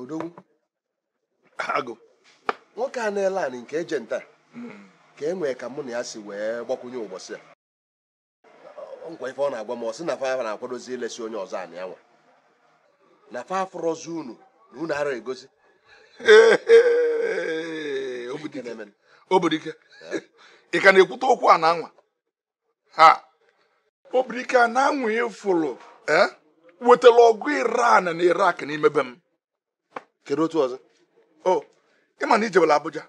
odogwu agụ nwoke a na-ele anị nke eje nta ka e nwee ka mụ na ya si wee gbakwunye ụbọsị a nekwa ife ọ na-agwa m ọ sị na fa na-akwadozi ilesi onye ọzọ anị ya nwa na fa afụrọzi unu na unu ara egosi obodike ị ka na-ekwute okwu ana anwa ha obodike ana anwa ị fụrụ e, wetara ọgụ iran na iraq n'ime be m kedu otu ọzọ o oh, ị ma na i jebela Abuja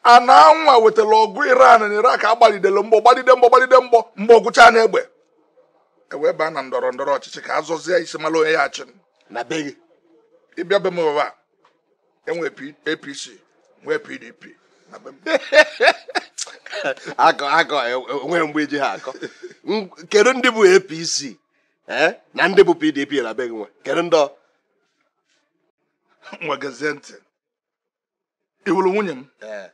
ana anwa wetara ọgụ Iran na Iraq a gbalidele mgbọ gbalide mgbọ gbalide mgbọ mgbọ gwụcha n'egbe e wee baa na ndọrọ ndọrọ ọchịchị ka a zọzie isi mara onye ya-achị na be gị ị bịa be m ụwa e nwee APC nwee PDP na be m akọ akọ e nwere mgbe e ji ha akọ kedu ndị bụ APC ee na ndị bụ pdp na be gị nwe kedu ndị ọ nwe gezie ntị ị hụrụ nwunye m ee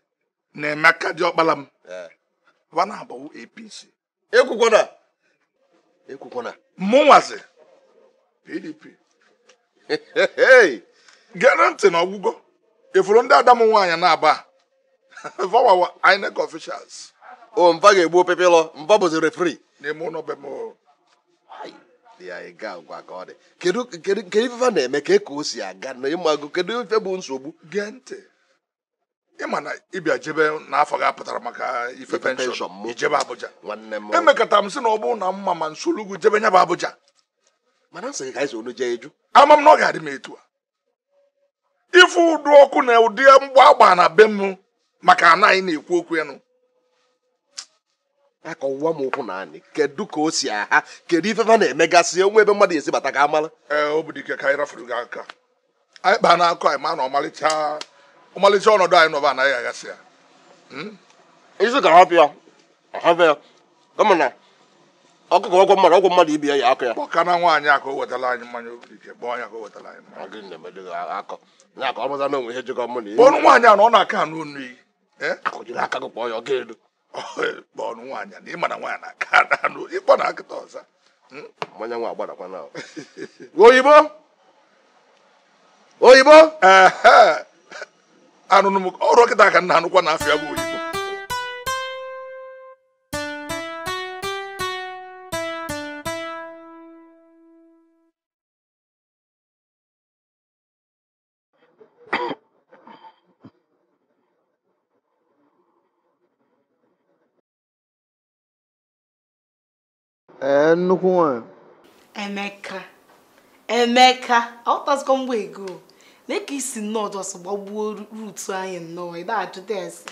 na Emeka diọkpara m ee wa naabọ wụ apc ekwukwana ekwukwana mụ nwazi pdp gere ntị na ọ gwụgo ị fụrụ ndị ada m nwaanyị naabọ va wa wụ INEC officials ọ va ga-egbu opepelọ va bụzi referee n'ime ụlọ be m kedu ife va na-eme kee ka o si aga na ị mago kedu ife bụ nsogbu gee ntị ị ma na ị bịa jebe n'afọ gị apụtara maka ife pension i jebe Abuja emekata m sị na ọ bụrụ na m ma m solu gị jebe nya bụ Abuja mana m sị ka anyị onu jee eju ama m na ọ ga-adị m etu a ị fụ ụdị ọgụ na ụdị mgba agba na be m maka ana anyị na-ekwu okwu enu akọwa m ụkwụ n'anị kedu ka o si aga kedu ife fa na-emegasị onwe ebe mmadụ esi bata ka amala ee obodike ka anyị rafuru gị aka anyị kpaa n'akọ anyị ma na ọmalịcha ọmalịcha ọnọdụ anyị nọba anaghị aghasị ya hmm? isi ka hapụ ya hapụ ya kama na ọkụkọ ọgwọ mmadụ ọgwọ mmadụ ibi ya ya akọ ya kpọka na nwaanyị akọ wetara anyị mmanya obodike kpọọ ya ka wetara anyị mmanya gị na-emedo gị akọ na akọ ọmụza na onwe ihe jikọ mụ na ihe kpọọ nwaanyị a na ọ na-aka anụ onu iyi eh? akụjiri aka gị kpọọ ya ọ ga-elu kpọọnụ nwaanyị na ị ma na nwaanyị na-aka ada anụ ị kpọọ nya kịta ọ za hmm? mmanya nwa agbadakwa na oyibo oyibo anụnụ m ọrụ ọkịta ka nna anụkwa na afịa bụ oyibo ee nnukwu nwanyị emeka emeka aghọtazikwa mgbe ego na ka isi nnọọ just gbagbuo route anyị nnọọ ịda ajụta ese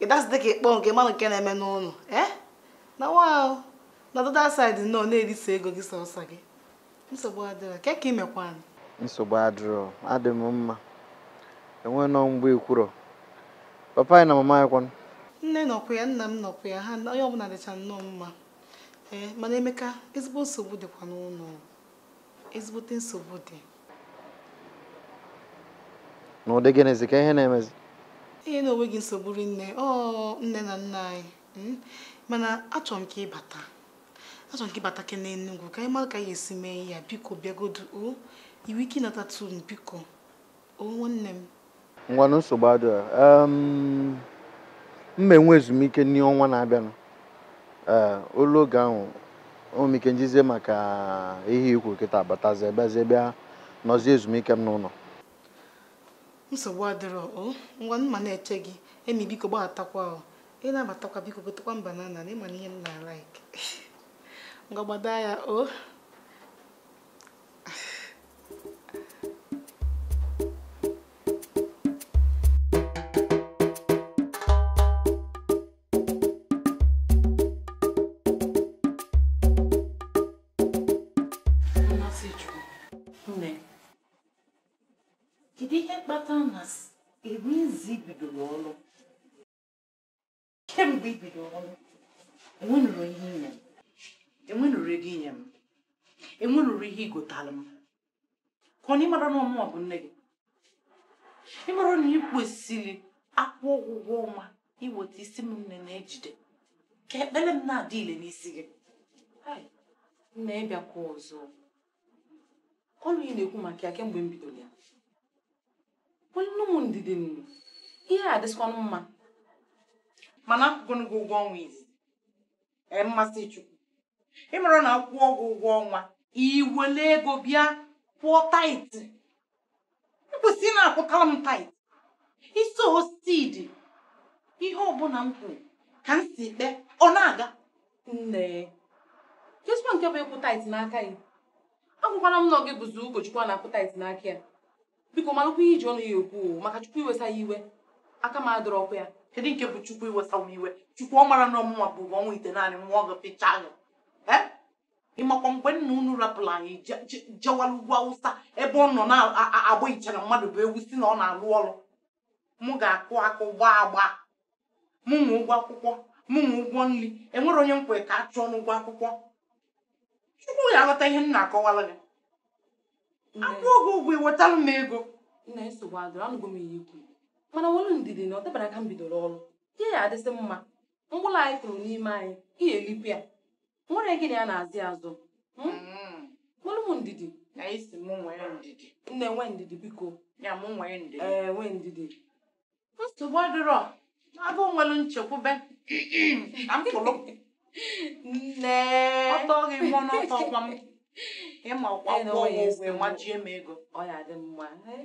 ịda asịdị ka ịkpọ ka ịmara nke na-eme n'ụlọ ee eh? na wa na the other side nnọọ na-erisa ego gị sọsọ gị nsogbu adịrọ kee ka imekwanụ nsogbu adịrọ adị m mma enwe nọ mgbe ikwurọ papa anyị na mama anyị kwanụ nne nọkwa ya nna m nọkwa ya ha onye ọbụla dịcha nnọọ mma ee mana emeka ezigbo nsogbu dịkwa n'ụlọ ezigbote nsogbu dị n'ụdị gịnịzi kee ihe na-emezi ihe na onweghị nsogbu rinne ọ nne na nna anyị hmm? mana achọrọ m ka ịbata achọrọ m ka ịbatakene Enugwu ka anyị mara ka anyị esi mee ya biko bịagodu o inwee ike ịnatatụ m biko o nwanne m ngwanụ nsogbu adịrọ m ma-enwe ezumike n'ime ọnwa na-abịanụ ee oluo oge ahụ enwee m ike njizie maka ihe ikwu kịta batazie bịazie bịa nọzie ezumike m n'ụlọ nsogbu adịrọ o ngwanụ m ma na-eche gị Emi biko gbatakwa ị na-abatakwa biko gotekwa m banana ịma na ihe m na-alike ngwa gbado anya o oh. kemgbe i bidoro ọrụ enwenụrụ ihe inye m enwenụrụ ego inye m enwenụrụ ihe igotalụ m ka ọ na ịmara na ọ mụwa bụ nne gị ịmara na ị kwesịrị akwụọ gị ụgwọ ọnwa iweta ịsị m nne na-ejide ka ekpere m na-adị ile n'isi gị Hai, nne ịbịakwa ọzọ ọrụ ị na-ekwu maka ya kemgbe m bidoro ya nwanne m ndidi nne ihe a dịsịkwanụ mma mana akwụgonụ gị ụgwọ ọnwa izi ee Mmasịchukwu ịmara na akwụọ gị ụgwọ ọnwa iwele ego bịa kwụọ tithe ikwesịrị na-akwụtara m tithe iso osidi ihe ọbụla m kwuru ka m si kpee ọ na-aga nne kezikwa nke bụ ịkwụ tithe n'aka gị agwakwana m na ọ gị bụzi ụkọchukwu a na-akwụ tithe n'aka ya bịa malụkwa ihe iji ọnụ gị ekwu maka chukwu iwesa gị iwe aka m adịrọkwa ya kedu nke bụ chukwu iwesa m iwe chukwu ọ mara na ọ mụnwa bu ọnwa itenaanị nwoke pịcha gị ịmakwa mgbe nna unu rapụrụ anyị jewara ugwu awụsa ebe ọ nọ na-agba iche na mmadụ bụ ewu sị na ọ na-alụ ọrụ mụ ga-akụ akụ gbaa agba mụ nwe ụgwọ akwụkwọ mụ nwe ụgwọ nri enwere onye m kwere ka a chụọ n'ụgwọ akwụkwọ chukwu ya aghọta ihe m na-akọwara gị akwụọ gị ụgwọ iwetara m ego nne nsogbu adịrọ anụgo m ihe ikwu mana nwere ndidi na ọ dabara ka m bidoro ọrụ ihe ya-adịsị mma mkpụrụ anyị kụrụ n'ime anị ị ya-elikwa ya nwere gịnị a na-azị azụ hmm? mm-hmm. nwere m ndidi na ị sị m nwere ndidi nne nwe ndidi biko ya m nwere ndidi ee eh, nwe ndidi nsogbu adịrọ agụ nwere nchekwube ka m pụrụ nne ọtọ gị mmụọ n'ọtọ ọkwa m ịma ọkwa eh, ụgwọ ụgwọ ịmajie m ego ọ ya dị mma eh?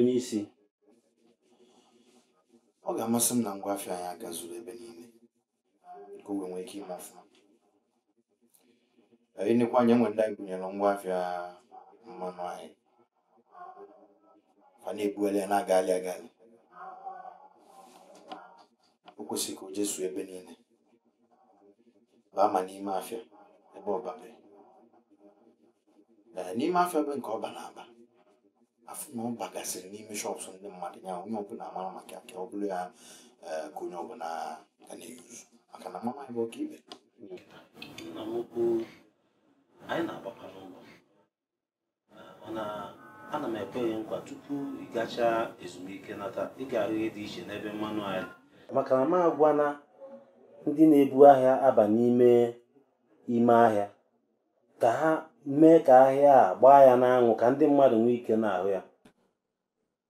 onye isi ọ ga-amasị m na ngwa afịa anyị a gazuru ebe niile ka o wee nwee ike ime ọfụma ịnekwa anya nwe ndị anyị gụnyere ngwa afịa mmanụ anyị fa na-ebuela ya na-agali agali o kwesịrị ka o jezuo ebe niile baa ma n'ime afịa ebe ọ babe ee n'ime afịa ebe nke ọ ba na-aba afụ na ọ bagasịrị n'ime shops ndị mmadụ ka onye ọbụla mara maka ka ọ bụrụ ya ee, ka onye ọbụla ga na-eyuzu maka na mama bụ ọka ibe na mokwu anyị na-agbakwa n'ụlọ ana m ekwe gị nkwa tupu ị gachaa ezumike nata ị ga-ahụ ihe dị iche n'ebe mmanụ anyị maka na m agwana ndị na-ebu ahịa aba n'ime ime ahịa ka ha mee ka ahịa a gbaa ya n'anwụ ka ndị mmadụ nwee ike na-ahụ ya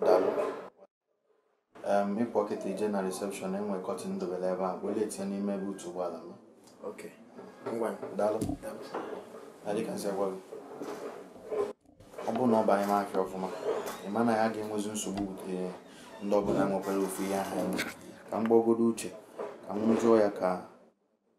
daalụ Em, ị pụọ kịta i je na reception enwe carton dobere ebe a welu ya tinye n'ime boot ụgbọala m ok ngwa daalụ na dịka m si gwa gị ọ bụrụ na ọ barọ market ọfụma ị ma na a ga-enwezi nsogbu bute ndị ọbụla nwekwara ofu ihe ahụ enwe ka m gbagodo uche ka m jụọ ya ka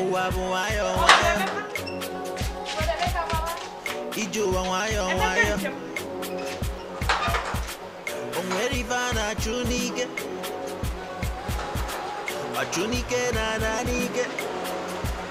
ụwa bụ nwayọ nwayọ ije ụwa nwayọ nwayọ o nwere ife a na-achụ n'ike ọchụ n'ike na-ana n'ike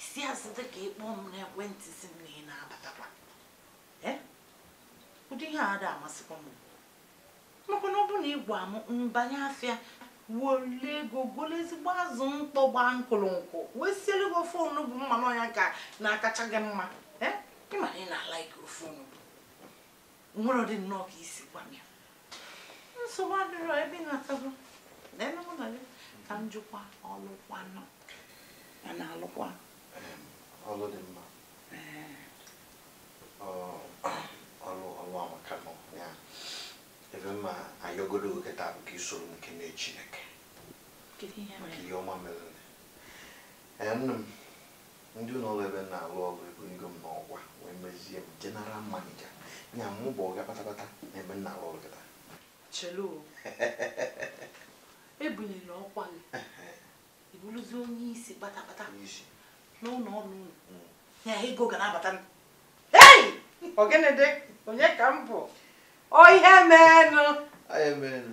isi asị dị ka ịkpọ m n'ekwentị si m na ị na-abatakwa Eh? ụdị ihe a ada amasịkwa m maka na ọ bụrụ na ị gwa m m banye afịa wele ego golo ezigbo azụ mkpọ gbaa nkụrụ nkụ wee siere gị ofe onugbu m ma na ọ ya na-akacha gị mma Eh? ị mara ị na-ala ike ofe onugbu nwere ọdị nnọọ ka isi gwa m ya nsogbu adịrọ ebe ị natago leenụ mụ na gị ka m jụkwa ọlụkwanụ a na-alụkwa ọlụ dị mma ọlụ ọlụ amaka nọ ya ive m ma-ayọ godu kịta bụ ka i soro m kene Chineke maka ihe ọma mere nne m ndị ụlọ ọrụ ebe m na-alụ ọrụ ebunigo m n'ọkwa wee mezie m general manager ya mụ bụ oga kpatakpata na ebe m na-alụ ọrụ kịta chelu ebuniela ọkwa gị ị bụrụzi onye isi kpatakpata n'isi n'ụlọ ọrụ unu Mm. ya ego ga na-abata m hei ọ gịnịdị onye ka m bụ ọ ihe meenụ anyị emeenu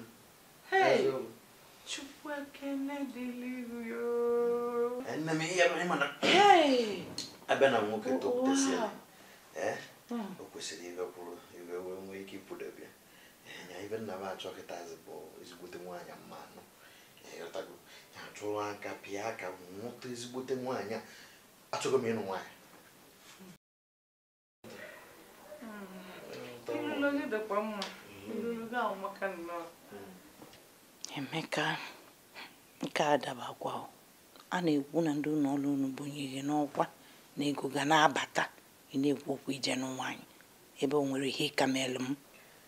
abịa na nwoke topụtasịa o kwesịrị ibe kwuru ibe wee nwee ike ịpụdebe nya ive m na-achọ kịtazi bụ ezigbote nwaanyị m ma-anụ ị ghọtago ya chụrụ aka pịa aka nweta ezigbote nwaanyị achọọ m ịnụ nwaanyị Emeka nke a adabakwa a na-ekwu na ndị ụlọ ọrụ unu bunie gị n'ọkwa na ego ga na-abata ị na-ekwu okwu ije nụ nwaanyị ebe o nwerọ ihe ị ka melụ m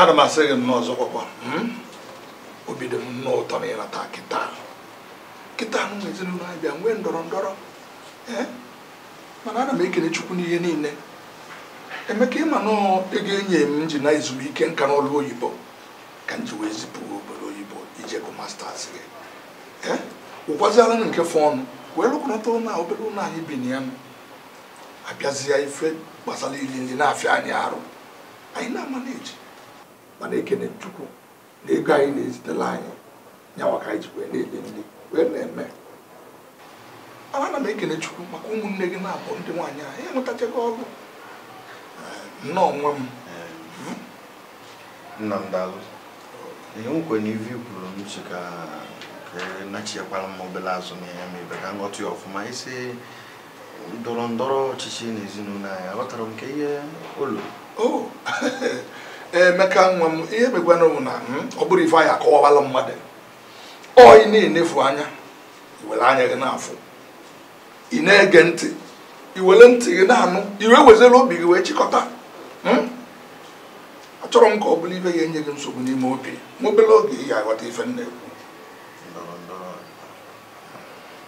ana m asị gị nnọọ ọzọ kwakwa hmm? obi dị m nnọọ ụtọ na ị nata kịta kịta ahụ na ezinụlọ anyị bịa nwee ndọrọ ndọrọ eh? mana ana m ekele chukwu n'ihe niile emeka ị ma na ego e nye m m ji naa ezumike nka n'ọlụ oyibo ka m ji wee zipụ obodo oyibo ije gụ masters gị eh? ụgwaziala nke fọọnụ wee rụkọnata ụlọ obere ụlọ anyị bi na ya abịazia ife gbasara ili nri na-afịa anyị arụ anyị na-ama na-eji mana ekene chukwu na ego a ị na-ezitela anyị nya nwa ka anyị ji wee na-eli nri wee na-eme mana ana m ekene chukwu maka ụmụnne gị naabọ ndị nwaanyị enwetachago ọrụ nnọọ nwa m nna m daalụ ihe m kwere na ive i kwuru m sị ka ka nachikwara m obere azụ na ya ma ibe ka m ghọta ya ọfụma isi ndọrọ ndọrọ ọchịchị na ezinụlọ anyị aghọtara m ka ihe ụlọ oh, emeka nwa m ihe m ga-agwa unu bụ na hmm, ọ bụrọ ife a ya-akọwawala mmadụ ọ ị na-enefu anya i were anya gị na-afụ ị na-ege ntị i were ntị gị na-anụ i wee wezere obi gị wee chịkọta hmm? achọrọ m ka ọ bụrụ ife ya-enye gị nsogbu n'ime obi ma obere oge ị ga-aghọta ife m na-ekwu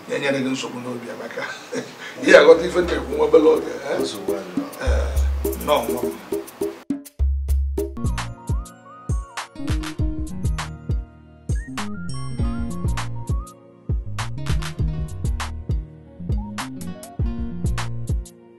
ya enyela gị nsogbu n'obi amaka ị ya-aghọta ife a na-ekwu nwa obere oge nọọ nwa